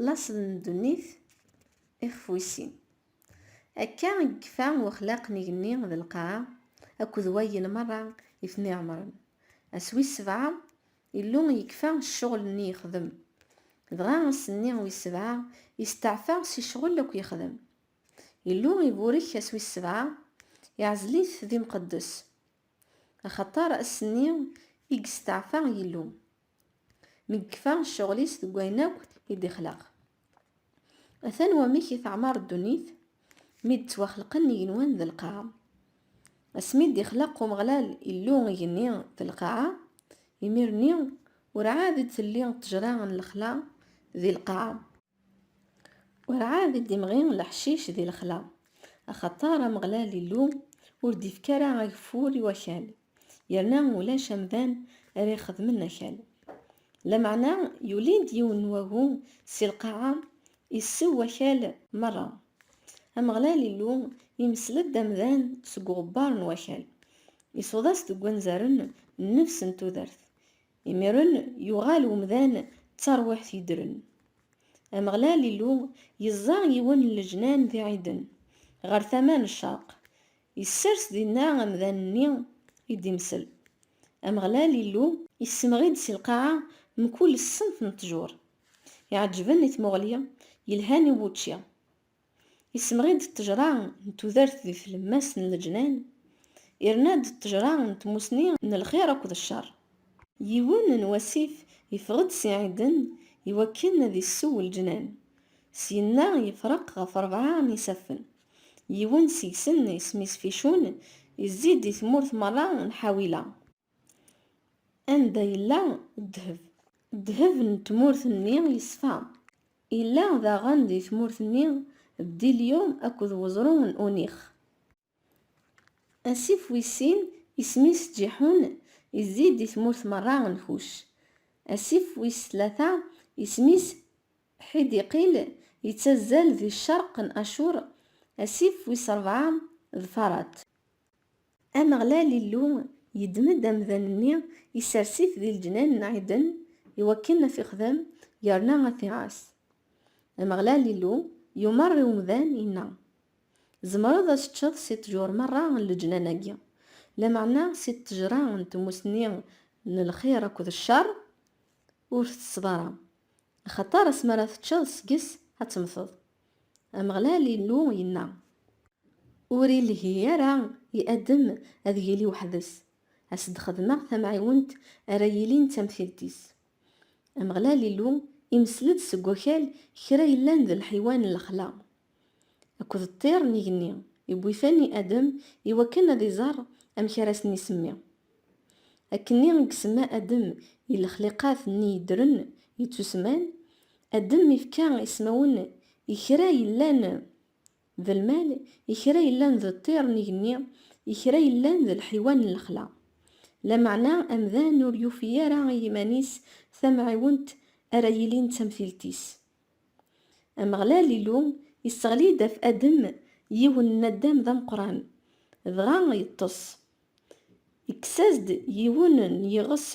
Laṣel n ddunit, ixef wis sin. Akka i yekfa wexlaq n igenni d lqaɛa akked wayen merra i ten-iɛemren. Ass wis sebɛa, Illu yekfa ccɣel-nni yexdem. Dɣa ass-nni wis sebɛa yesteɛfa si ccɣel akk yexdem. Illu iburek ass wis sebɛa, iɛzel-it d imqeddes. Axaṭer ass-nni i yesteɛfa Yillu, Nekfa ccɣel-is deg wayen akk i d-ixleq. Atan wamek i teɛmar ddunit mi d-ttwaxelqen igenwan d lqaɛa. Asmi i d-ixleq Umeɣlal Illu igenni d lqaɛa, imir-nni, ur ɛad i d-telli ṭṭejra n lexla di lqaɛa. Werɛad i d-imɣi leḥcic di lexla, axaṭer Ameɣlal Illu ur d-ifki ara ageffur i wakal, yerna ulac amdan ara ixedmen akal. Lameɛna yuli-d yiwen n wagu si lqaɛa, issew wakal merra. Ameɣlal Illu imessel-d amdan seg uɣebbar n wakal, isuḍ-as deg wanzaren nnefs n tudert, Imiren yuɣal umdan d tarwiḥt yeddren. Ameɣlal Illu yeẓẓa yiwen n leǧnan di Ɛiden, ɣer tama n ccerq, yessers dinna amdan-nni i d-imsel. Ameɣlal Illu. Yessemɣi-d si lqaɛa mkul ṣṣenf n ṭṭjur iɛeǧǧben i tmuɣli, yelhan i wučči. Issemɣi-d ṭṭejra n tudert di tlemmast n leǧnan, irna-d ṭṭejra n tmusni n lxir akked ccer. Yiwen n wasif yeffeɣ-d si Ɛiden i wakken ad issew leǧnan. Syenna yefreq ɣef rebɛa n yisaffen. Yiwen seg-sen isem-is Ficun, izzi-d i tmurt merra n Ḥawila. Anda yella ddheb? Ddheb n tmurt-nni yeṣfa. Yella daɣen di tmurt-nni bdilyum akked weẓru n unix. Asif wis sin, isem-is Ǧiḥun, yezzi di tmurt merra n Kuc. Asif wis tlata, isem-is Ḥidiqil, yettazzal di ccerq n Acur. Asif wis rebɛa d Farat. Ameɣlal Illu yeddem-d amdan-nni, isers-it di leǧnan n Ɛiden i wakken ad t-ixdem yerna ad t-iɛass. Ameɣlal Illu yumeṛ i umdan, yenna, Tzemreḍ ad teččeḍ si ṭṭjur meṛṛa n leǧnan-agi, lameɛna si ṭṭejṛa n tmusni n lxiṛ akked cceṛ ur teţţeḍ ara, axaṭer asmi ara teččeḍ seg-s ad temmteḍ. Ameɣlal Illu yenna, Ur ilhi ara i Adem ad yili weḥd-s, ad s-d-xedmeɣ tamɛiwent ara yilin d tamtilt-is. Ameɣlal Illu imessel-d seg wakal kra yellan d lḥiwan n lexla akked ṭṭir n igenni, iwwi-ten i Adem iwakken ad iẓer amek ara sen-isemmi. Akkenni i isemma Adem i lexliqat nni yeddren, yettusemman, Adem ifka ismawen i kra yellan d lmal, i kra yellan d ṭṭir n igenni, i kra yellan d lḥiwan n lexla. Lameɛna amdan ur yufi ara i yiman-is tamɛiwent ara yilin d tamtilt-is. Ameɣlal Illu isseɣli-d af Adem yiwen n naddam d ameqqran, dɣa yeṭṭes. Ikkes-as-d yiwen n yiɣes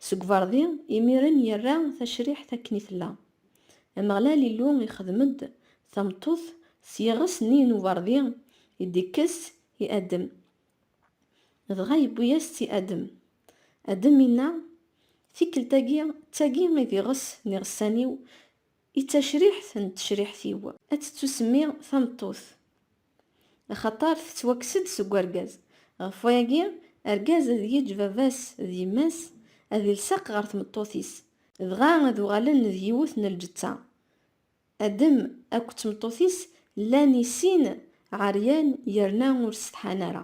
seg ubeṛdi, imiren yerra tacriḥt akken i tella. Ameɣlal Illu ixdem-d tameṭṭut s yiɣes-nni n ubeṛdi i d-ikkes i Adem. Dɣa yewwi-yas-tt i Adem. Adem inna, Tikkelt-agi d tagi i d iɣes n iɣessan-iw, i d tacriḥt n tecriḥt-iw. Ad tettusemmi tameṭṭut. Axaṭer tettwakkes-d seg urgaz. Ɣef wayagi, argaz ad yeǧǧ baba-s d yemma-s, ad ilsaq ɣer tmeṭṭut-is, dɣa ad uɣalen d yiwet n lǧetta. Adem akked tmeṭṭut-is llan i sin ɛeryan yerna ur setḥan ara.